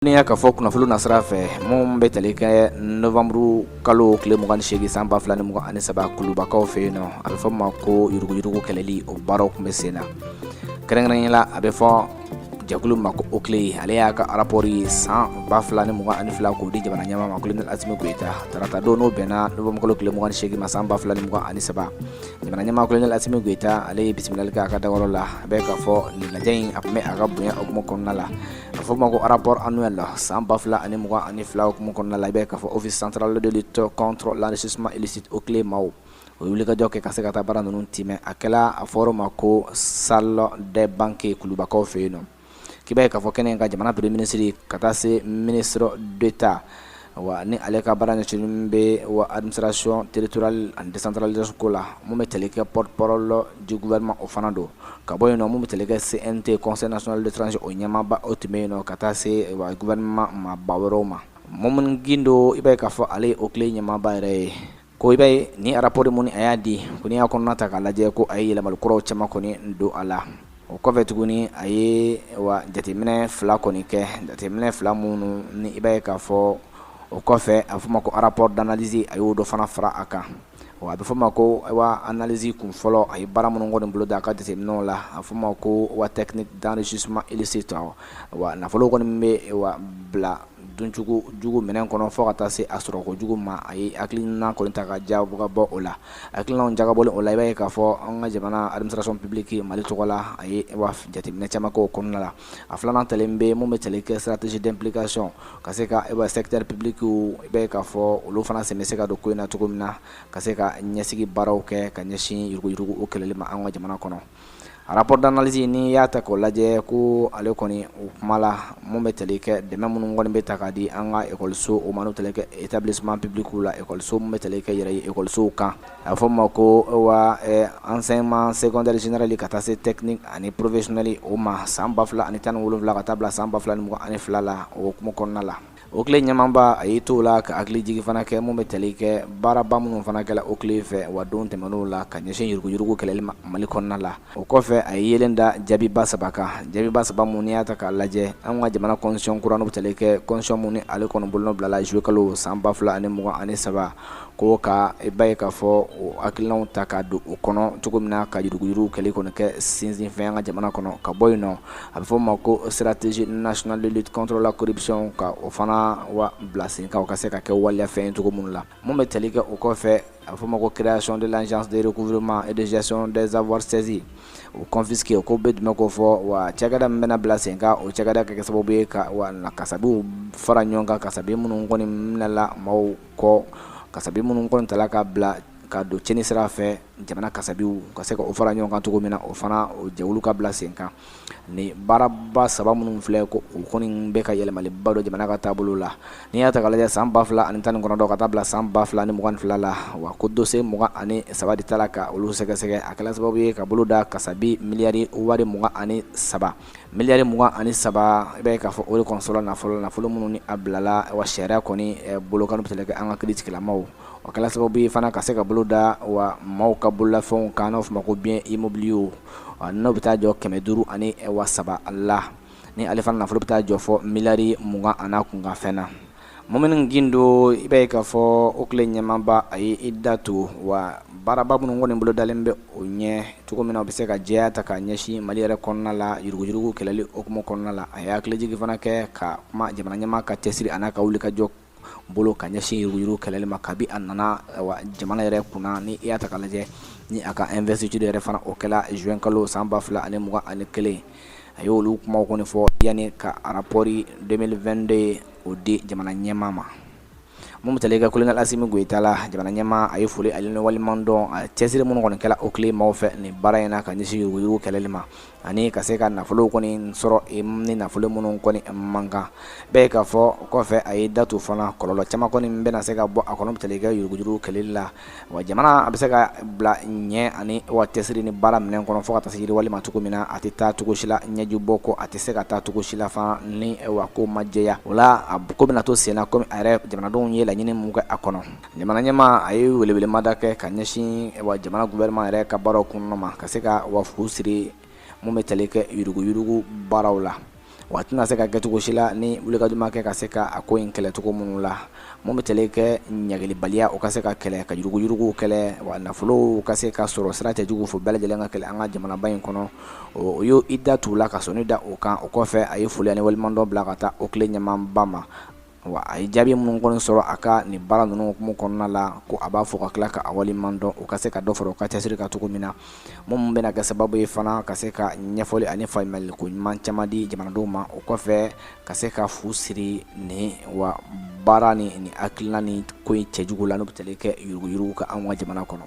N'i y'a ka fɔ kunnafoni nasira fɛ minnu bɛ tali kɛ nowanburukalo tile 28 san 2023 kulubakaw fɛ yen nɔ a bɛ fɔ ma ko yuruguyurugu kɛlɛli o baaraw tun bɛ sen na kɛrɛnkɛrɛnnenya la a bɛ fɔ jɛkulu ma ko OCLEI ale y'a ka arapɔri san 2022 k'o di jamana ɲɛmaa ma kolonɛli asimi goyita tarata don n'o bɛnna nowanburukalo tile 28 ma san 2023 jamana ɲɛmaa kolonɛli asimi goyita ale ye bisimilali kɛ a ka dagayɔrɔ la a bɛ k'a fɔ nin lajɛ in a tun bɛ a ka bonya hukumu kɔnɔna la a fɔ ma ko rapport annuel san ba fila ani mugan ani fila o hukumu kɔnɔna la i b'a ye k'a fɔ Office central de lutte contre l'enrichissement illicite OCLEI maaw ye wulikajɔ kɛ ka se ka taa baara ninnu tɛmɛn a kɛra a fɔra ma ko salle des banquets kulubakaw fɛ yen nɔ k'i b'a ye k'a fɔ kɛnɛ kan jamana premier ministre ka taa se ministre d'État Wa ni ale ka baara ɲɛsin bɛ wa alimisasiɔn teriuruturali ani desantralilasoko la mun bɛ kɛlɛkɛ ppp la jikuma o fana don ka bɔ yen minnu bɛ kɛlɛkɛ sen tɛ kɔsɔnnasolisi o ɲɛmaaba o tun bɛ yen ka taa se guma maaba wɛrɛ ma ma minnu gdo i bɛ k'a fɔ ale o tile ɲɛmaaba yɛrɛ ye Ko i b'a ye ni arapɔri min ni a y'a di ko n'i y'a kɔnɔna ta k'a lajɛ ko a ye yɛlɛma kura caman kɔni don a la o kɔfɛ tuguni a ye wa jateminɛ fila kɔni kɛ jateminɛ fila minnu ni i b'a ye k'a fɔ o kɔfɛ a bɛ fɔ ma ko rapport d'analyse a y'o dɔ fana fara a kan a bɛ fɔ ma ko wa analyse kunfɔlɔ a ye baara minnu kɔni boloda a ka jateminɛw la a fɔ ma ko wa technique d'enrichissement illicite wa nafolo kɔni bɛ wa bila duncogo jugu minɛn kɔnɔ fɔ ka taa se a sɔrɔ ko jugu ma a ye hakili kɔni ta ka jagabɔ o la hakilijagabɔ o la i b'a ye k'a fɔ an ka jamana administration publique mali tɔgɔ la a ye jateminɛ caman o kɔnɔna la a filanan ta bɛ mun bɛ tali kɛ stratégie d'implication ka se ka e secteur public i b'a ye k'a fɔ olu fana sen bɛ se ka don ko in na cogo min na ka se ka ɲɛsigi baaraw kɛ ka ɲɛsin yuruguyurugu o kɛlɛli ma an ka jamana kɔnɔ Rapport d'analyse n'i y'a ta k'o lajɛ ko ale kɔni o kuma la mun bɛ tali kɛ dɛmɛ minnu kɔni bɛ ta k'a di an ka ekɔliso o ma n'o tali kɛ établissement public la ekɔliso min bɛ tali kɛ yɛrɛ ye ekɔlisow kan a bɛ fɔ o ma ko wa enseignement secondaire général ka taa se technique ani professionnel o ma san 2017 ka taa bila san 2022 la o hukumu kɔnɔna la OCLEI ɲɛmaaba a y'i to o la ka hakilijigin fana kɛ mun bɛ tali kɛ baaraba minnu fana kɛra OCLEI fɛ wa don tɛmɛnenw la ka ɲɛsin yuruguyurugu kɛlɛli ma mali kɔnɔna la o kɔfɛ a ye yeelen da jaabiba saba kan jaabiba saba minnu n'i y'a ta k'a lajɛ an ka jamana constitution kura in bɛ tali kɛ constitution min ni ale kɔnɔ bolonɔ bilala zuluyekalo san ba fila ani mugan ani saba ko ka i b'a ye k'a fɔ o hakilinaw ta k'a don u kɔnɔ cogo min na ka yuruguyuruguw kɛlɛ kɔni kɛ sinsinfɛn an ka jamana kɔnɔ ka bɔ yen nɔ a bɛ fɔ' ma ko stratégie nationale de lutte contre la corruption ka o fana wa bila sen kan u ka se ka kɛ waleyafɛn cogo minnu la minnu bɛ tali kɛ o kɔfɛ a bɛ fɔ ma ko création de l'agence de recouvrement et de gestion des avoirs saisis ou confisqués o kɔrɔ bɛ dun ko fɔ wa cakɛda min bɛna bila sen kan o cakɛda ka kɛ sababu ye ka kasabiw fara ɲɔgɔn kan kasabi minnu kɔni minɛla maaw kɔ kasabi minnu kɔni tala ka bila ka don cɛnni sira fɛ jamana kasabiw ka se ka o fara ɲɔgɔn kan cogo min na o fana o jɛwulu ka bila sen kan ni baaraba saba minnu filɛ ko u kɔni bɛ ka yɛlɛmaliba don jamana ka taabolo la n'i y'a ta lajɛ san ba fila ani tan ni kɔnɔntɔn ka taa bila san ba fila ni mugan fila la wa ko dossier mugan ani saba de tala ka olu sɛgɛsɛgɛ a kɛla sababu ye ka bolo da kasabi miliyari wari mugan ani saba miliyari mugan ani saba i b'a ye k'a fɔ o de kɔni sɔrɔla nafolo la nafolo minnu ni a bilala wa sariya kɔni bolo kan bɛ se ka kɛ an ka kiiritigɛla maaw a kɛla sababu ye fana ka se ka bolo da wa maaw ka bololafɛnw kan n'o bɛ fɔ ma ko biens immobiliers o n'o bɛ taa jɔ kɛmɛ duuru ani wa saba la ni ale fana nafolo bɛ taa jɔ fɔ miliyari mugan ani kunkanfɛn na maa min don i b'a ye k'a fɔ OCLEI ɲɛmaaba a ye i da to wa baaraba minnu kɔni bolo dalen bɛ o ɲɛ cogo min na u bɛ se ka jɛya ta ka ɲɛsin mali yɛrɛ kɔnɔna la yuruguyurugu kɛlɛli hukumu kɔnɔna la a ye hakilijigin fana kɛ ka kuma jamana ɲɛmaa ka cɛsiri ani ka wulikajɔ bolo ka ɲɛsin yuruguyurugu kɛlɛli ma kabi a nana jamana yɛrɛ kunna ni i y'a ta k'a lajɛ ni a ka investiture yɛrɛ fana o kɛra zuwɛn kalo san ba fila ani mugan ani kelen a ye olu kuma kɔni fɔ yanni ka arapɔri deux mille vingt-deux o di jamana ɲɛma ma mun bɛ tali kɛ kolonɛli Asimi Goyita la jamana ɲɛma a ye foli ani waleɲumandɔn a cɛsiri minnu kɔni kɛla OCLEI maaw fɛ ni baara in na ka ɲɛsin yuruguyurugu kɛlɛli ma ani ka se ka nafolo kɔni sɔrɔ ani nafolo minnu kɔni man kan i b'a ye k'a fɔ kɔfɛ a ye datu fana kɔlɔlɔ caman kɔni bɛna se ka bɔ a kɔnɔ bɛ tali kɛ yuruguyurugu kɛlɛli la wa jamana a bɛ se ka bila ɲɛ ani wa cɛsiri ni baara minɛn kɔnɔ fo ka tasiri walima cogo min na a tɛ taa cogo si la ɲɛju bɔ kɔ a tɛ se ka taa cogo si la fana ni wa ko ma jɛya o la a ko bɛna to senna kɔmi a yɛrɛ jamanadenw ye laɲini mun kɛ a kɔnɔ Jamana ɲɛmaa a ye welewelemada kɛ ka ɲɛsin wa jamana gouvernement yɛrɛ ka baaraw kɔnɔna ma ka se ka u ka fuu siri mun bɛ tali kɛ yuruguyurugu baaraw la wa a tɛna se ka kɛ cogo si la ni wulikajɔ ma kɛ ka se ka a ko in kɛlɛ cogo minnu la mun bɛ tali kɛ ɲangilibaliya o ka se ka kɛlɛ ka yuruguyuruguw kɛlɛ wa nafolow ka se ka sɔrɔ sira cɛjugu fɛ o bɛɛ lajɛlen ka kɛlɛ an ka jamanaba in kɔnɔ o y'o i da tugu la ka sɔnni da o kan o kɔfɛ a ye foli ani waleɲumandɔn bila ka taa OCLEI ɲɛmaaba ma Wa a ye jaabi minnu kɔni sɔrɔ a ka nin baara ninnu mumɛ kɔnɔna la ko a b'a fo ka tila k'a waleɲumandɔn u ka se ka dɔ fara u ka cɛsiri kan cogo min na minnu bɛna kɛ sababu ye fana ka se ka ɲɛfɔli ani faamuyali ko ɲuman caman di jamanadenw ma o kɔfɛ ka se ka fu siri ni wa baara ni ni hakilina ni ko in cɛjugu la n' bɛ tali kɛ yuruguyurugu kan an ka jamana kɔnɔ